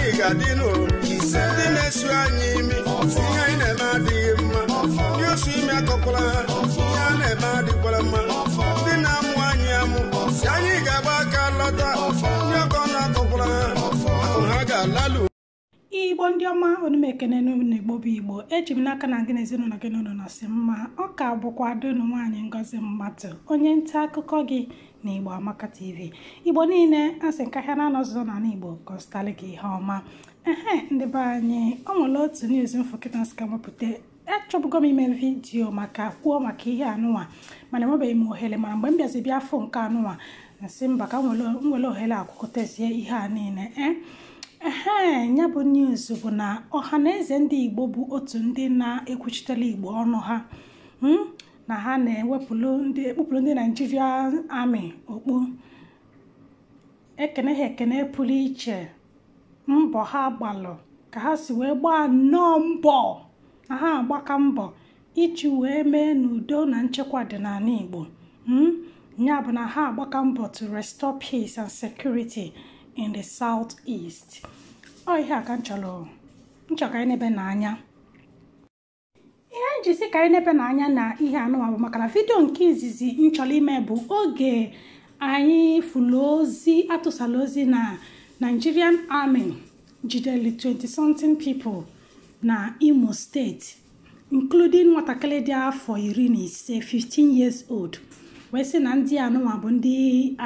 ị ga-adị n'ụlọ ndị na-esu anyị imi ihe anyị na-eme adịghị mma ndị osu imi akọkwala ha ihe a na-eme adịkwala mma ndị na-amụ anyị amụ si anyị ga-agba aka lọta ndị ọkọ ọnụ akọkwala ha akụ ha ga-alalu igbo ndị ọma ana m ekene unu igbo bụ igbo eji m n'aka na gị na ezinụlọ gị na unu nọsị mma ọ ka bụkwa ada unu nwaanyị ngozi mmadụ onye nta akụkọ gị n'Igbo Amaka TV Igbo niile asị m ka ahịa na-anọ ọzụzọ n'ala Igbo kọstali gị ihe ọma ehe ndị be anyị ọ nwere otu news m fụ kịta m sị ka m wepụta achọbụgo m ime vidiyo maka kwuo maka ihe anụnwa mana enwebeghị m ohere mana mgbe m bịazi bịa afụ nke anụnwa m sị mba ka m were ohere a kwukọtazie ihe a niile ee ehe ya bụ news bụ na Ọhaneze ndị Igbo bụ otu ndị na-ekwuchitere Igbo ọnụ ha na ha na-ekpupụrụ ndị naijiria army okpu ekene ha ekene pụrụ iche mbọ ha gbalụ ka ha si wee gbaa nnọọ mbọ na ha agbaka mbọ iji wee mee na udo na nchekwa dị n'ala igbo hmm? ya bụ na ha agbaka mbọ to restore peace and security in the south east ọ ihe a ka m chọrọ ka anyị nebenụ anya ihe m ji sị ka anyị nebenụ anya na ihe anụwa bụ maka na vidio nke izizi m chọrọ ime bụ oge anyị fụlụ ozi atụsala ozi na Nigerian Army jidere 20 something people na Imo steeti including nwatakịrị dị afọ iri na ise 15 years old wee sị na ndị anụnwa bụ ndị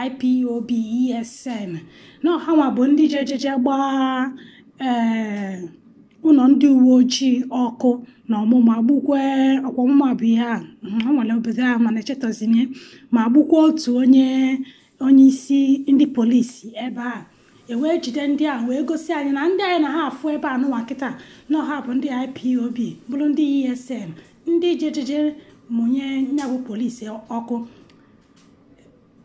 IPOB ESN na ọ hanwa bụ ndị jejeje gbaa ee eh, ụlọ ndị uwe ojii ọkụ na omuma gbukwe ọkwa omuma bụ ihe a ọ nwere obodo ahụ mana echetazighị m ma gbukwa otu onye onye isi ndị polisi ebe a e wee jide ndị a wee gosi anyị na ndị anyị na ha afụ ebe anụwa kịta na ọ ha bụ ndị IPOB bụrụ ndị ESN ndị jejeje mụnye nyabụ polisi ọkụ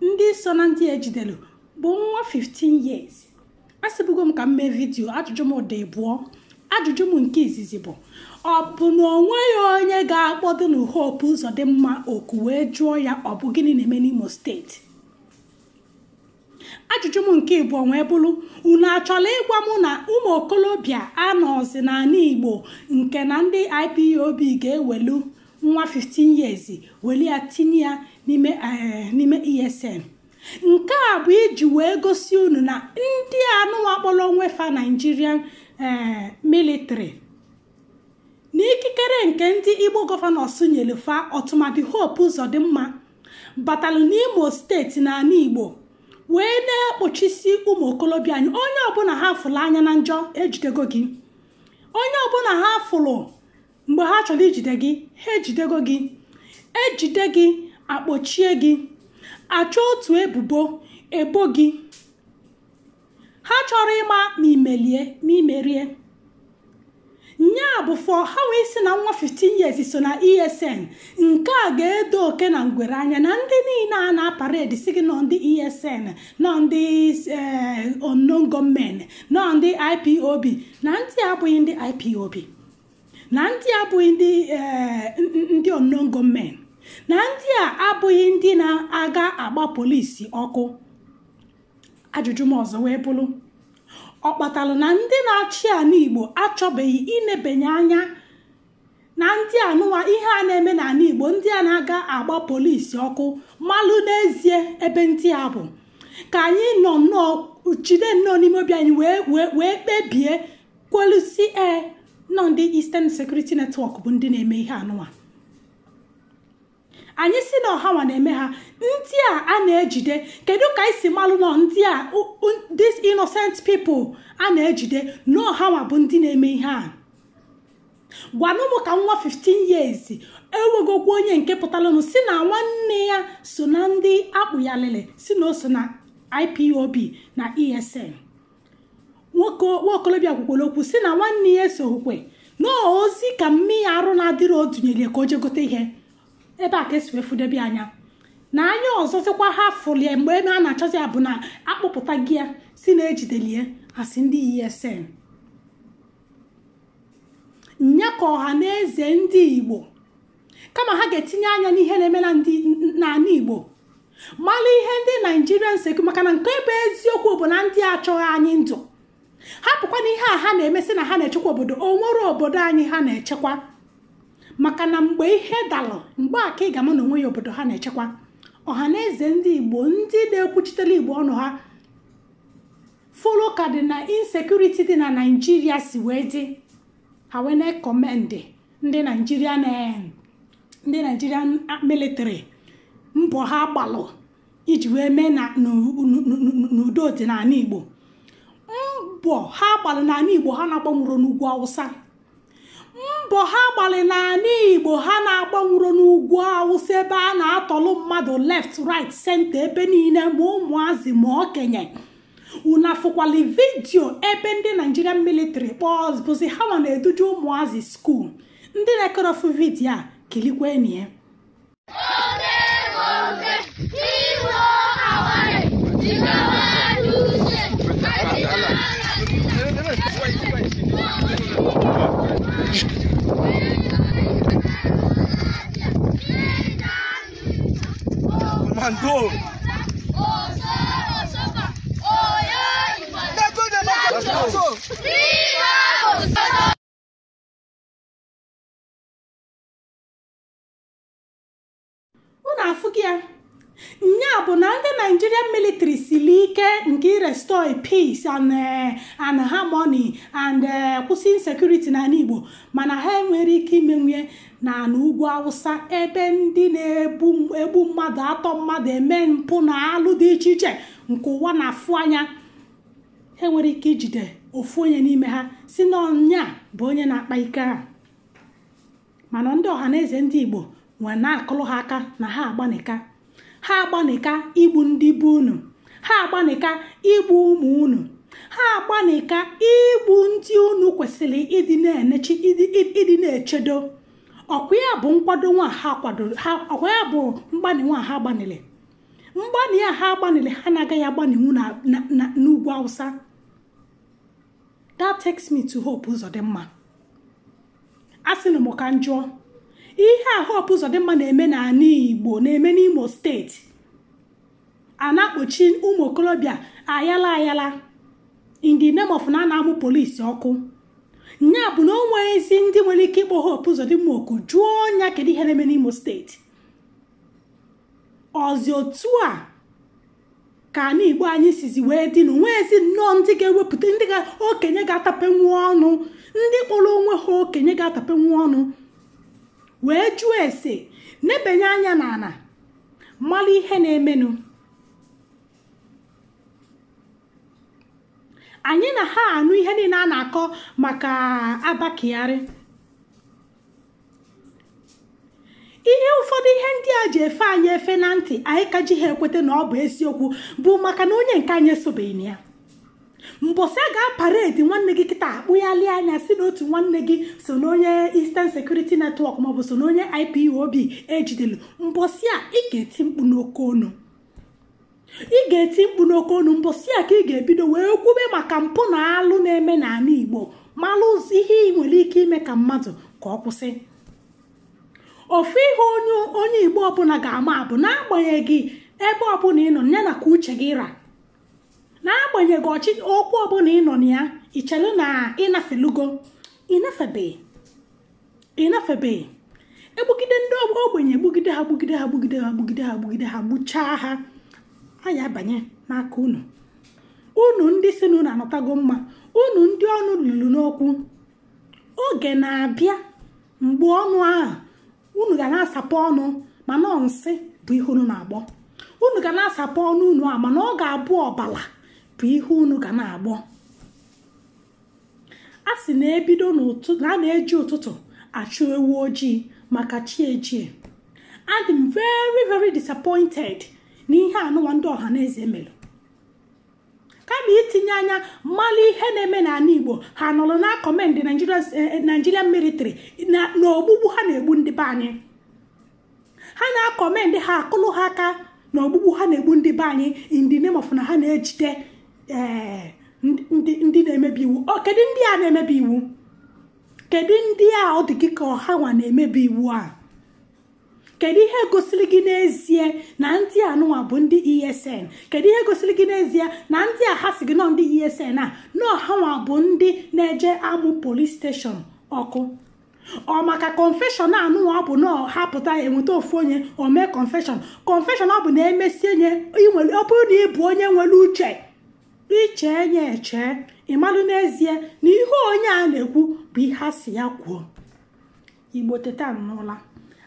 ndị so na ndị e jidere bụ nwa 15 years asịbụgo m ka m mee vidiyo ajụjụ m dị ịbụọ ajụjụ m nke izizi bụ ọ bụ na o nweghị onye ga-akpọdo na hope ụzọdịmma oku wee jụọ ya ọ bụ gịnị na-eme n'imo steeti ajụjụ m nke ịbụọ wee bụrụ unu achọla ịgwa m na ụmụ okolobịa anọọzi n'ala igbo nke na ndị ipob ga-ewelu nwa 15 years weli ya tinye ya n'ime esn nke a bụ iji wee gosi unu na ndị anụwa kpọrọ onwe fa Nigerian eh, military na ikikere nke ndị Igbo gọvanọs nyere fa ọtụmadị Hope Uzodimma batalụ n'Imo steeti na ala Igbo wee na-ekpochisi ụmụ okolobịa anyị onye ọbụla ha fụrụ anya na njọ ejidego gị onye ọbụla ha fụrụ mgbe ha chọrọ ijide gị ha ejidego gị ejide gị akpọchie gị achọ otu ebubo ebo gị ha chọrọ ịma ma imelie ma imerie nya bụ fọ ha wee sị na nwa 15 years so na esn nke a ga-edo oke na ngwere anya na ndị niile a na-aparedi sị gị n'ọ ndị esn n'ọ ndị eh, unknown gunmen n'ọ ndị ipob na ndị a abụghị ndị ipob na ndị a abụghị ndị eh, ndị unknown gunmen na ndị a abụghị ndị na-aga agba polisi ọkụ ajụjụ m ọzọ wee bụrụ ọ kpatalụ na ndị na-achị ala igbo achọbeghị inebanye anya na ndị anụwa ihe a na-eme n'ala igbo ndị a na-aga agba polisi ọkụ malụ n'ezie ebe ndị a bụ ka anyị nọ nnọọ jide nnọọ n'ime obi anyị wee wee wee kpebie kwelu sị ee n'ọ ndị Eastern Security Network bụ ndị na-eme ihe anụwa anyị sị na ọ hanwa na-eme ha ndị a a na-ejide kedu ka anyị si malụ n'ọ ndị a these innocent people a na-ejide na ọ hanwa bụ ndị na-eme ihe a gwanụ m ka nwa 15 years enwegokwa onye nke pụtalụnụ sị na nwanne ya so na ndị akpụyalịlị sị na o so na IPOB na ESN nwoke nwaokolobịa kwukwara okwu sị na nwanne ya esoghịkwa na ozi ka nne ya arụ na-adịrọ dunyere ya ka o je gote ihe ebe a ka esi wee fụdebe anya na anya ọzọzịkwa ha fụlie mgbe ebe a na-achọzi ya bụ na akpụpụtago ya sị na ejidelie as ndị ESN nya ka ọha na eze ndị Igbo kama ha ga-etinye anya n'ihe na-eme na ndị n'ala igbo mala ihe ndị naijirian sekụ maka na nke bụ eziokwu bụ na ndị achọghị anyị ndụ hapụkwa na ihe a ha na-eme sị na ha na-echekwa obodo onwere obodo anyị ha na-echekwa maka na mgbe ihe dalụ mgbe a ka ị ga-ama na onwehị obodo ha na-echekwa ọha na eze ndị igbo ndị na-ekwuchitere igbo ọnụ ha fụlụ ka dị na insekuriti dị na naijiria si wee dị ha wee na-ekọmendị ndị nigerian military mbọ ha gbalụ iji wee mee na udo dị n'ana igbo mbọ ha gbalị n'ana igbo ha na-agbanwurọ n'ugwu awụsa mbọ ha gbalị n'ana igbo ha na-agbanwurọ n'ugwu awụsa ebe a na-atọlụ mmadụ left right center ebe niile ma ụmụazị ma okenye unu afụkwalị vidio ebe ndị nigerian military police bụzi ha nwa na-eduje ụmụazị skuul ndị na-ekirọfụ vidio a kilikwenụ ya Mando. unu afụgo ya nya bụ na ndị nigerian military sili ike nke irestore peace and eh, and harmony and eh, kwụsị insecurity n'ana igbo mana ha enwerọ ike imenwue n'ana ugwu awụsa ebe ndị na-egbu mmadụ atọ mmadụ eme mpụ na alụ dị iche iche nke ụwa na-afụ anya ha enwerọ ike ijide ofu onye n'ime ha sị na ọ nya bụ onye na-akpa ike a mana ndị ọha na eze ndị igbo nwere na-akụlụ ha aka na ha agbanịka ha agbanịka igbu ndị be unu ha agbanịka igbu ụmụ unu ha agbanịka igbu ndị unu kwesịlị ịdị na ịdị na-echedo ọ kwa ya bụ nkwado nwa ha kwadoro ha ọ kwa ya bụ mgbanị nwa ha gbanịlị mgbanị a ha gbanịlị ha na-agaghị agbanịnwu n'ugwu awụsa that takes me to Hope Uzodimma asịnụ m ka m jụọ ihe a Hope Uzodimma na-eme n'ana Igbo na-eme n'Imo steeti a na-akpọchi ụmụ okolobịa ayala ayala in the name of na a na-amụ polisi ọkụ nya bụ na o nweezi ndị nwere ike ịkpọ Hope Uzodimma oku jụọ nya kedu ihe na-eme n'Imo steeti ọ zi otu a ka ana igbo anyị sizi wee dị na o nweezi nnọọ ndị ga-ewepụta ndị okenye ga-atapenwu ọnụ ndị kpọrọ onwe ha okenye ga-atapenwu ọnụ wee jụọ ese nebanye anya n'ana malụ ihe na-emenụ anyị na ha anụ ihe niile a na-akọ maka abba kyari ihe ụfọdụ ihe ndị a ji efe anyị efe na ntị anyị ka ji ha ekweta na ọ bụ eziokwu bụ maka na onye nke anyị esobeghị na ya mbọsị a ga-aparedi nwanne gị kịta akpụghalị anya si na otu nwanne gị so na onye Eastern Security Network maọbụ so na onye IPOB ejidelu mbọsị a ị ga-eti mkpu n'oke onu ị ga-eti mkpu n'oke onu mbọsị a ka ị ga-ebido wee kwube maka mpụ na alụ na-eme n'ala igbo malụ ihe ị nwere ike ime ka mmadụ ka ọ kwụsị ofu ihe onye onye igbo ọbụla ga-ama bụ n'agbanyeghị ebe ọbụla ị nọ ya na ka uche gị ra n'agbanyeghị ọchịchị okwu ọbụla ị nọ na ya i chelu na ị nafelugo ị nafebeghị ị nafebeghị egbugide ndị ogbenye egbugide ha gbugide ha gbugide ha gbugide ha gbugide ha gbuchaa ha a ya-abanye n'aka unu unu ndị si na unu anọtago mma unu ndị ọnụ lulu n'okwu oge na-abịa mgbe ọnụ ahụ unu ga na-asapụ ọnụ mana ọ nsị bụ ihe unu na-agbọ unu ga na-asapụ ọnụ unu a mana ọ ga-abụ ọbala bụ ihe unu ga na-agbọ a sị na-ebido n'ụtụ na a na-eji ụtụtụ achụ ewu ojii maka chi ejie adị m very very disappointed na ihe anụwa ndị ọha na eze melụ kama itinye anya malụ ihe na-eme n'ala igbo ha nọrọ na-akọmendị nigerian military na ogbugbu ha na-egbu ndị be anyị ha na-akọmendị ha akụlụ ha aka na ogbugbu ha na-egbu ndị be anyị in the name of na ha na-ejide ee, ndị- ndị ndị na-emebi iwu ọ kedu ndị a na-emebi iwu kedu ndị a ọ dị gị ka ọ ha nwa na-emebi iwu a kedu ihe gosiri gị n'ezie na ndị anụwa bụ ndị esn kedu ihe gosiri gị n'ezie na ndị a ha si gị na ọ ndị esn a na ọ ha nwa bụ ndị na-eje amụ polis steshọn ọkụ ọ maka confession anụnwa ọ bụ na ọ ha pụta eweta ofu onye o mee confession confession ọ bụ na emesie nye inwere ọ bụrụ na ị bụ onye nwere uche iche enye eche ị malụ n'ezie na ihe onye a na-ekwu bụ ihe a si ya kwuo igbo teta n'ụla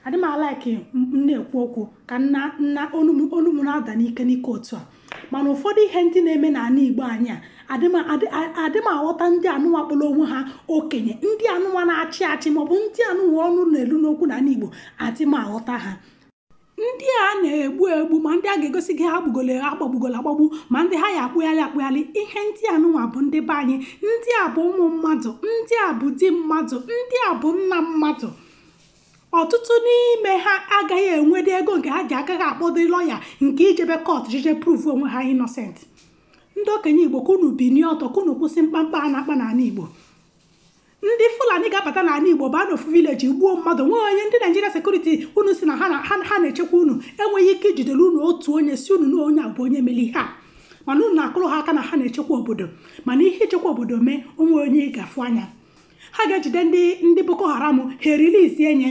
adịm alaiki m na-ekwu okwu ka na na onu m na-ada n'ike n'ike otu a mana ụfọdụ ihe ndị na-eme n'ala igbo anyị a adịm aghọta ndị anụnwa kpọrọ onwe ha okenye ndị anụnwa na-achị achị maọbụ ndị anụnwa ọnụ na-elu n'okwu n'ala igbo adịm aghọta ha ndị a na-egbu egbu ma ndị a ga-egosi gị ha gbugolo agbagbugolo agbagbu ma ndị ha ya akpụghalị akpụghalị ihe ndị anụnwa bụ ndị be anyị ndị a bụ ụmụ mmadụ ndị a bụ di mmadụ ndị a bụ nna mmadụ ọtụtụ n'ime ha agaghị enwede ego nke ha ji agaghị akpọdo lọya nke ijebe kọt jije prove onwe ha innocent ndị okenye igbo ka unu binie ọtọ ka unu kwụsị mkpamkpa a na-akpa n'ala igbo ndị fulani ga-abata n'ala igbo baa n'ofu vileji gbuo mmadụ nwee onye ndị naijiria sekuriti unu sị na ha na- ha ha na-echekwa unu enweghị ike ijidere unu otu onye sị unu na onye a bụ onye mere ihe a mana unu na-akụrụ ha aka na ha na-echekwa obodo mana ihe ichekwa obodo mee o nwee onye ị ga-afụ anya ha ga-ejide ndị ndị boko haram ha e-release enye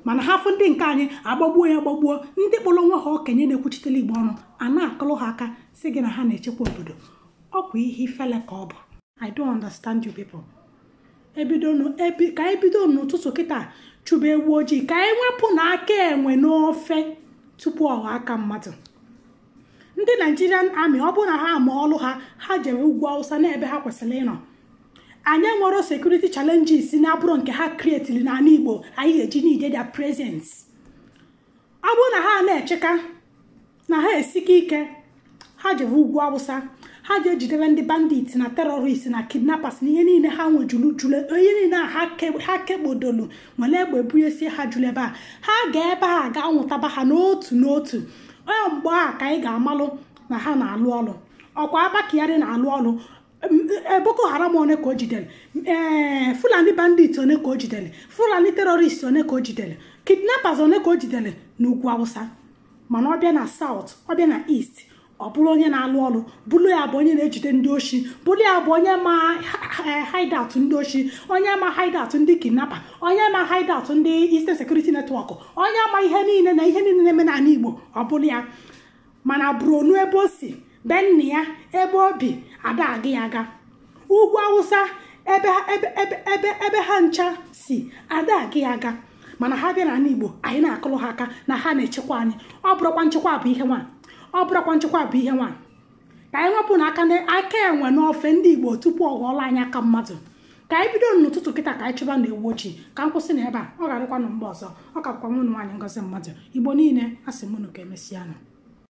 mana ha fụ ndị nke anyị agbagbuo ya gbagbuo ndị kpọrọ onwe ha okenye na-ekwuchitere igbo ọnụ a na-akụrụ ha aka sị gị na ha na-echekwa obodo ọ bụ ihe ifele ka ọ bụ i don't understand you people ebido nụ- ebi- ka anyị bido n'ụtụtụ kịta chụba ewu ojii ka anyị wepụ na aka enwe n'ofe tupu ọ ghọọ aka mmadụ ndị nigerian army ọ bụrụ na ha ama ọlụ ha ha jere ugwu awụsa n'ebe ha kwesịrị ịnọ anyị enwerọ security challenges na-abụrọ nke ha krietiri n'ala igbo anyị ga-eji need their presence ọ bụrụ na ha na-echeka na ha esike ike ha jere ugwu awụsa ha ga-ejidere ndị bandit na terrorist na kidnappers na ihe niile ha nwejuru juru ihe niile a ha ke- ha kekpodolu were egbe bunyesie ha juru ebe a ha gaa ebe a gaa nwụtaba ha n'otu n'otu ọ mgbe a ka anyị ga-amalụ na ha na-alụ ọlụ ọkwa abba kyari na-alụ ọlụ boko haram one ka o jidere ee fulani bandit one ka o jidere fulani terrorist one ka o jidere kidnappers one ka o jidere n'ugwu awụsa mana ọ bịa na south ọ bịa na east ọ bụrụ onye na-alụ ọlụ bụrụ ya bụ onye na-ejide ndị oshi bụrụ ya bụ onye ma hideout ndị oshi onye ma hideout ndị kidnapa onye ma hideout ndị Eastern Security Network onye ma ihe niile na ihe niile na-eme n'ala Igbo ọ bụrụ ya mana Borno ebe o si be nna ya ebe o bi ada aga ya aga ugwu awụsa ebe ha- ebe ebe ebe ebe ha ncha si ada aga ya aga mana ha bịa n'ala igbo anyị na-akụrụ ha aka na ha na-echekwa anyị ọ bụrụkwa nchekwa bụ ihe nwa ọ bụrụkwa nchekwa bụ ihe nwa ka anyị wepụ na aka na aka enwe n'ofe ndị igbo tupu ọ ghọọla anyị aka mmadụ ka anyị bido n'ụtụtụ kịta ka anyị chụba na ewu ojii ka m kwụsị na ebe a ọ ga-adịkwa na mgbe ọzọ ọ ka bụkwa nwanne unu nwaanyị ngozi mmadụ igbo niile asị m unu ka emesịa nụ